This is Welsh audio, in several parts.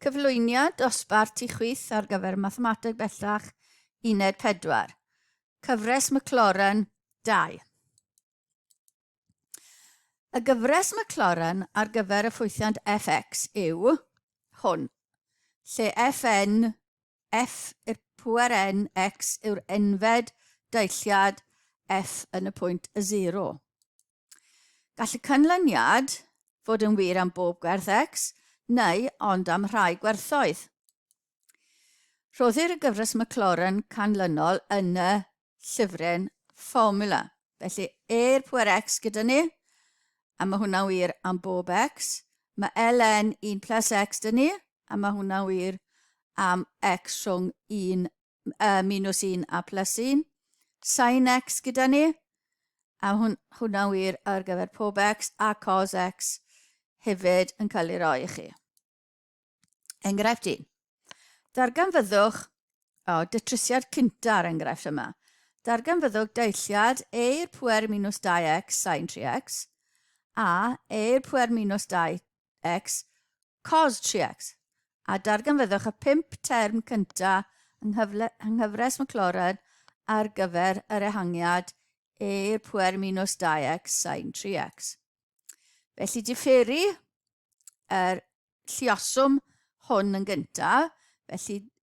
Cyflwyniad dosbarth ti chwith ar gyfer Mathemateg Bellach Uned 4. Cyfres Maclaurin 2. Y gyfres Maclaurin ar gyfer y ffwythiant fx yw hwn, lle fn, f i'r pwer n, x yw'r enfed dailliad f yn y pwynt y 0. Gall y canlyniad fod yn wir am bob gwerth X, neu ond am rhai gwerthoedd. Rhoddir y gyfres Maclaurin canlynol yn y llyfryn fformula. Felly, e'r pwer x gyda ni, a mae hwnna'n wir am bob x. Mae ln 1 plus x dyn ni, a mae hwnna'n wir am x rhwng 1 uh, minus 1 a plus 1, sin x gyda ni, a hwn, hwnna'n wir ar gyfer pob x a cos x hefyd yn cael ei roi i chi. Enghraifft un. Darganfyddwch, o, dytrusiad cynta ar enghraifft yma. Darganfyddwch deilliad e i'r pwer minus 2x sin 3x a e i'r pwer minus 2 X, cos 3X, a darganfyddwch y pump term cyntaf yng nghyfres Maclaurin ar gyfer yr ehangiad e i'r pwer minus 2X sin 3X. Felly diferu yr llioswm hwn yn gyntaf, felly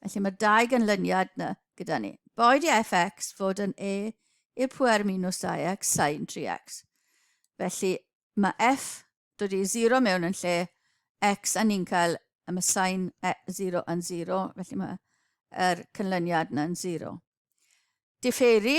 Felly mae'r dau ganlyniad yna gyda ni. Boed i fx fod yn e i'r pwer minus 2x sain 3x. Felly mae f dod i 0 mewn yn lle x a ni'n cael y mae sain 0 e, yn 0, felly mae'r er canlyniad yna'n 0. Differi,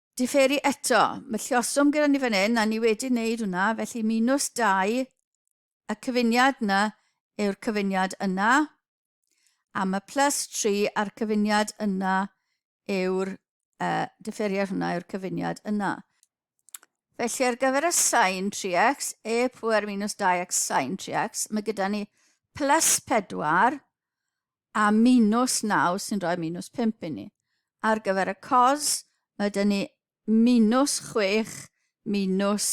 Diferu eto. Mae lluoswm gyda ni fan hyn a ni wedi wneud hwnna, felly minus 2, y cyfuniad yna yw'r cyfuniad yna, a mae plus 3 a'r cyfuniad yna yw'r uh, differiad hwnna yw'r cyfuniad yna. Felly ar gyfer y sain 3x, e pwer minus 2x sain 3x, mae gyda ni plus 4, a minws naw sy'n rhoi minws pump i ni. Ar gyfer y cos, mae dyn ni minws chwech, minws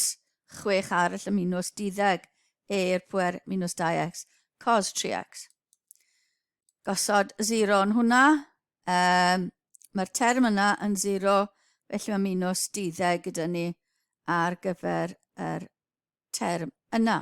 chwech arall y minws diddeg eir pwer minws 2x, cos 3x. Gosod 0 yn hwnna, um, mae'r term yna yn 0, felly mae minws diddeg gyda ni ar gyfer yr term yna.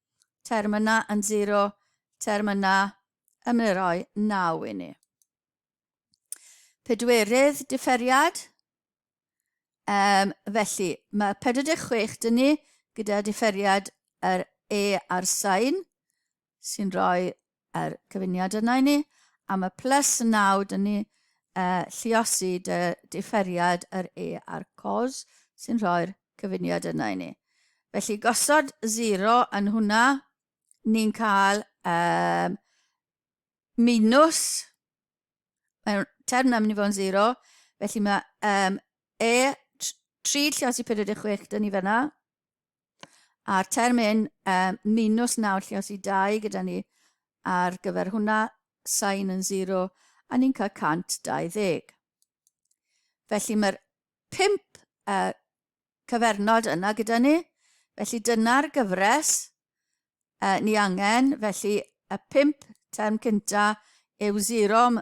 term yna yn zero, term yna yn mynd roi 9 i ni. Pedwerydd differiad, um, felly mae 46 dyn ni gyda differiad yr e a'r sain sy'n rhoi yr cyfuniad yna i ni, a mae plus 9, dyn ni uh, lliosi dy differiad yr e a'r cos sy'n rhoi'r cyfuniad yna i ni. Felly gosod 0 yn hwnna, ni'n cael um, minus, mae'r term na mynd i fod yn 0, felly mae um, e 3 lliosi 46 dyn ni fyna, A'r term hyn, um, minus nawr lle os i dau gyda ni ar gyfer hwnna, sain yn 0, a ni'n cael 120. Felly mae'r 5 uh, cyfernod yna gyda ni. Felly dyna'r gyfres uh, ni angen. Felly y 5 term cynta yw 0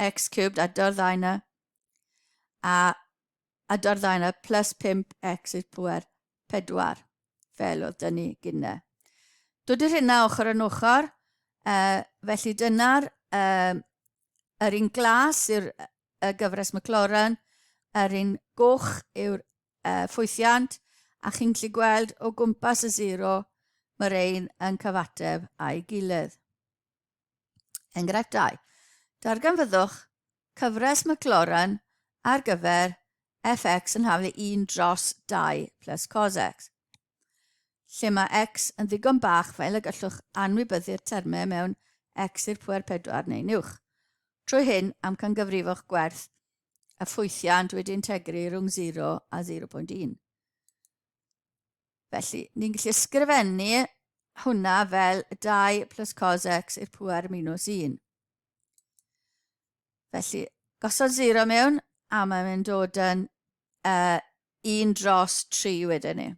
x cubed a dy'r ddau na a a dy'r ddau na plus 5x i'r pwer 4 fel oedd dyn ni gynne. Dwdy'r hynna ochr yn ochr, uh, felly dyna'r uh, yr un glas yw'r uh, gyfres McLaurin, yr un goch yw'r uh, ffwythiant, a chi'n gallu gweld o gwmpas y zero mae'r ein yn cyfateb a'i gilydd. Enghraifft 2. Darganfyddwch cyfres Maclaurin ar gyfer fx yn haflu 1 dros 2 plus cos x, lle mae x yn ddigon bach fel y gallwch anwybyddu'r termau mewn x i'r pwer 4 neu'n uwch. Trwy hyn, amcangyfrifwch gwerth y ffwythiant wedi'i integru rhwng 0 a 0.1. Felly, ni'n gallu ysgrifennu hwnna fel 2 plus cos x i'r pwer minus 1. Felly, gosod 0 mewn, a mae'n mynd dod yn uh, 1 dros 3 wedyn ni.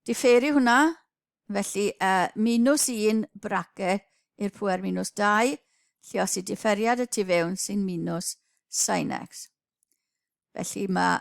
Diffeiri hwnna, felly uh, minus 1 bracet i'r pwer minus 2, lle os i differiad y tu fewn sy'n minus sin x. Felly mae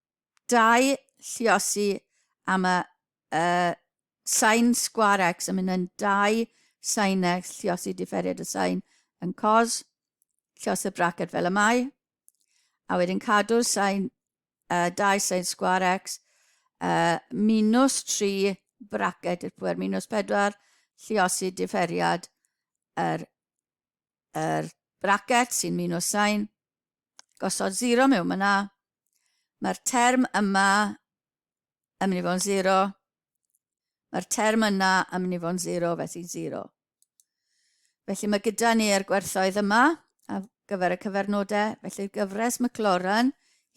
dau lluosi am y y sain sgwar x yn mynd yn dau sain x lluosi diferiad y sain yn cos lluos y braced fel y mae, a wedyn cadw sain uh, dau sain sgwar x uh, minus 3 braced i'r pwer minus 4 lluosi diferiad yr yr bracet sy'n muno sain, gosod zero mewn myna. Mae'r term yma yn mynd i fod yn zero. Mae'r term yna yn mynd i fod yn zero, felly zero. Felly mae gyda ni er gwerthoedd yma a gyfer y cyfernodau. Felly'r gyfres McLaurin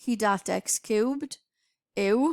hyd at x cubed yw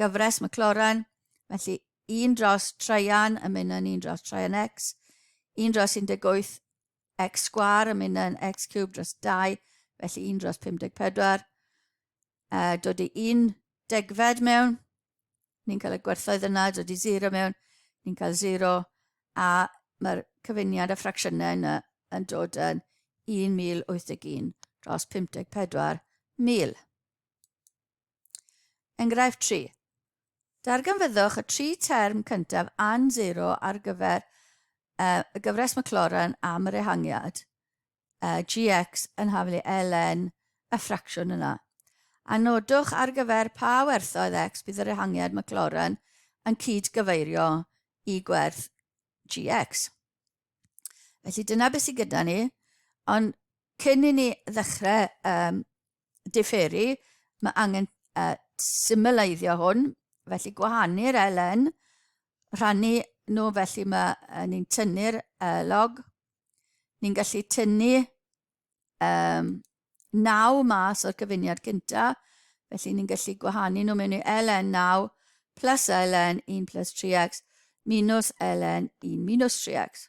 gyfres McLaurin, felly un dros traean yn mynd yn un dros traean x, un dros 18 x sgwar yn mynd yn x cwb dros 2, felly un dros 54, a dod i un degfed mewn, ni'n cael y gwerthoedd yna, dod i 0 mewn, ni'n cael 0, a mae'r cyfuniad a ffracsiynau yna yn dod yn 1081 dros 54,000. Enghraifft 3. Darganfyddwch y tri term cyntaf an zero ar gyfer uh, y gyfres Maclaurin am yr ehangiad uh, gx yn haflu ln y ffracsiwn yna. A nodwch ar gyfer pa werthoedd x bydd yr ehangiad Maclaurin yn cyd-gyfeirio i gwerth gx. Felly dyna beth sydd gyda ni, ond cyn i ni ddechrau um, diferu, mae angen uh, symyleiddio hwn, felly gwahanu'r LN, rhannu nhw, felly mae uh, ni'n tynnu'r uh, log, ni'n gallu tynnu um, naw mas o'r cyfuniad cyntaf, felly ni'n gallu gwahanu nhw mewn i ln 9 plus ln 1 plus 3x minus ln 1 minus 3x.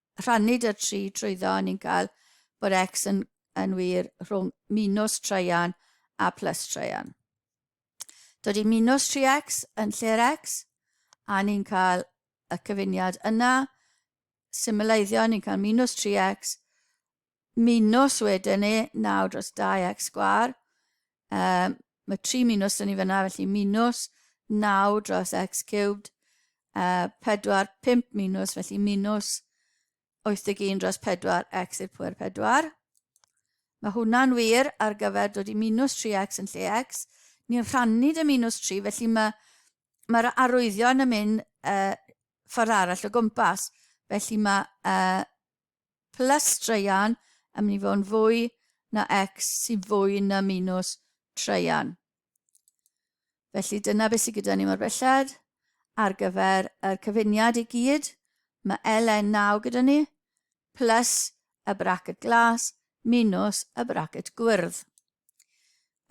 rhannu da tri trwyddo a ni'n cael bod X yn, yn wir rhwng minus traean a plus traean. Dod i minus 3x yn lle'r x, a ni'n cael y cyfuniad yna, symulaiddio, ni'n cael minus 3x minws wedyn ni, naw dros dau ac sgwar. Um, mae tri minws yn ni fyna, felly minws naw dros x cubed, uh, pedwar, pimp minws, felly minws 81 dros 4 x i'r pwer 4. Mae hwnna'n wir ar gyfer dod i minus 3x yn lle x. Ni'n rhannu dy minus 3, felly mae'r ma, ma arwyddion yn mynd uh, ffordd arall o gwmpas. Felly mae uh, plus straean yn mynd i fod yn fwy na x sy'n fwy na minus traean. Felly dyna beth sydd gyda ni mor belled ar gyfer y cyfuniad i gyd. Mae LN9 gyda ni, plus y bracket glas, minus y bracket gwyrdd.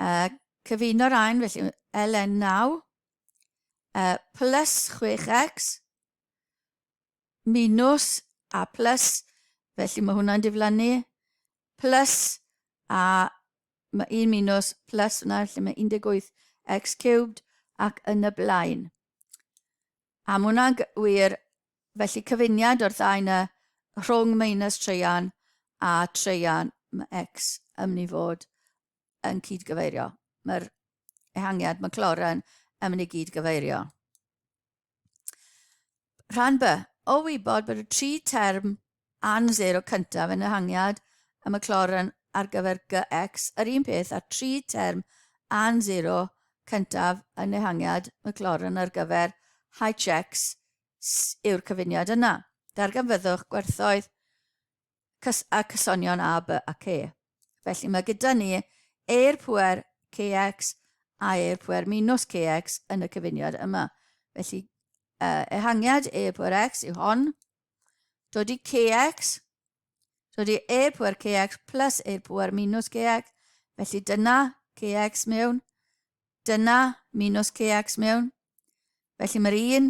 Uh, cyfuno'r ein, felly LN9, uh, plus 6x, minus a plus, felly mae hwnna'n diflannu, plus a mae 1 minus plus hwnna, felly mae 18 x cubed ac yn y blaen. A mae hwnna'n wir, felly cyfuniad o'r ddau yna rhwng minus treian a treian mae x yn mynd i fod yn cyd-gyfeirio. Mae'r ehangiad, mae cloren yn mynd i gyd-gyfeirio. Rhan B, o wybod bod y tri term an 0 cyntaf yn ehangiad y Maclaurin ar gyfer GX yr un peth a'r tri term an 0 cyntaf yn ehangiad Maclaurin ar gyfer HX yw'r cyfuniad yna. Darganfyddwch gwerthoedd cys a cysonion a, by a ce. Felly mae gyda ni e'r pwer cx a e'r pwer minus cx yn y cyfuniad yma. Felly uh, ehangiad e pwer x yw hon, dod i cx, dod i e pwer cx plus e pwer minus cx, felly dyna cx mewn, Dyna mi nos ceacs mewn. Felly mae'r un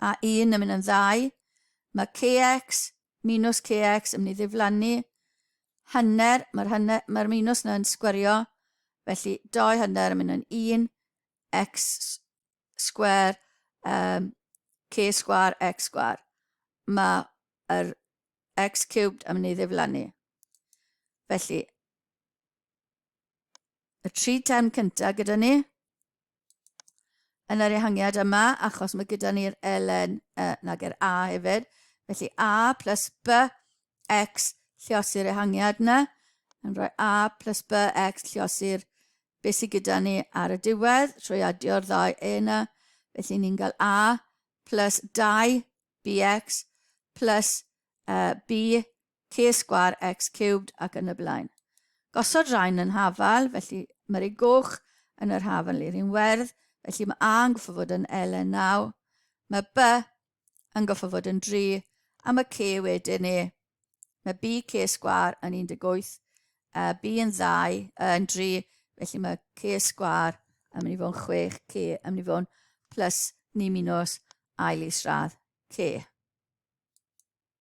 a un yn mynd yn ddau. Mae ceacs, mi nos ceacs yn mynd i ddiflannu. Hanner, mae'r hanner, mae'r mi nos yn sgwerio. Felly doi hanner yn mynd yn un, x sgwer, um, c sgwar, x sgwar. Mae yr x cubed yn mynd i ddiflannu. Felly, y tri term cyntaf gyda ni yn yr ehangiad yma, achos mae gyda ni'r ln, uh, nag yr a hefyd. Felly a plus b x lliosi'r ehangiad yna. Yn rhoi a plus b x lliosi'r be sydd gyda ni ar y diwedd trwy adio'r ddau e yna. Felly ni'n cael a plus 2 bx plus uh, b C sgwâr x ciwbd ac yn y blaen. Gosod rhain yn hafal, felly mae'r u goch yn yr haf yn liri'n werdd, felly mae a yn goffa fod yn ln 9, mae b yn goffa fod yn 3, a mae c wedyn e. Mae b c sgwâr yn 18, a b yn 2, yn 3, felly mae c sgwâr yn mynd i fod yn 6, c yn mynd i fod yn plus ni minus ail is radd c.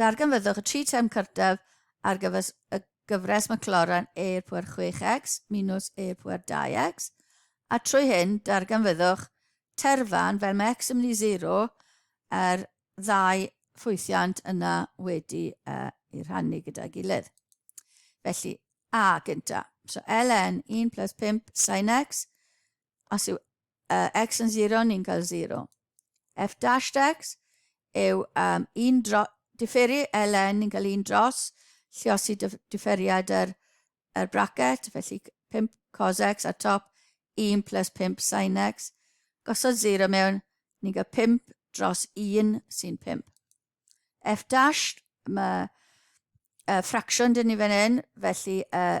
Darganfyddwch y tri term cyrtaf ar gyfer y gyfres Maclaurin eir pwer 6x minus eir pwer 2x, a trwy hyn darganfyddwch terfan fel mae x yn mynd i 0 a'r ddau ffwythiant yna wedi uh, i rhannu gyda'i gilydd. Felly, a gynta. So ln 1 plus 5 sin x os yw uh, x yn 0, ni'n cael 0. f dashed x yw um, un dro, differi ln ni'n cael un dros lliosi differiad yr, er, er bracket, felly 5 cos x a top 1 plus 5 sin x. Gosod 0 mewn, ni'n cael 5 dros 1 sy'n 5. f dash, mae uh, ffracsiwn dyn ni fan hyn, felly uh,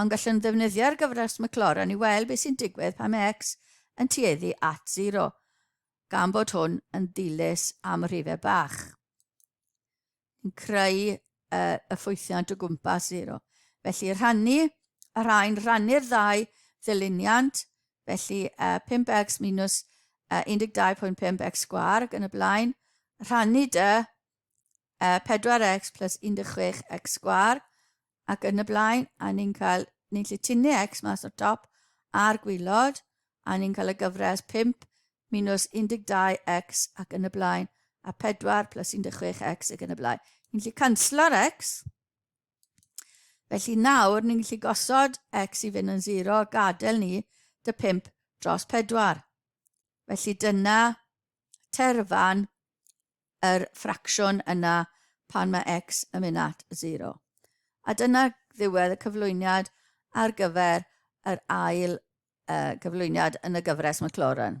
ond gallwn ddefnyddio'r gyfres Maclaurin i weld beth sy'n digwydd pan mae x yn tueddu at 0, gan bod hwn yn ddilys am rhifau bach. Yn creu uh, y ffwythiant o gwmpas 0. Felly rhannu, y rhain rhannu'r ddau ddyluniant, felly uh, 5x minus uh, 12.5x sgwar ac yn y blaen, rhannu dy uh, 4x plus 16x sgwar, ac yn y blaen, a ni'n cael, ni'n lle tynnu X mas o'r top a'r gwylod, a ni'n cael y gyfres 5 minus 12X ac yn y blaen, a 4 plus 16X ac yn y blaen. Ni'n lle canslo'r X, felly nawr ni'n lle gosod X i fynd yn 0, gadael ni dy 5 dros 4. Felly dyna terfan yr ffracsiwn yna pan mae x yn mynd at 0. A dyna ddiwedd y cyflwyniad ar gyfer yr ail uh, gyflwyniad yn y gyfres McLaurin.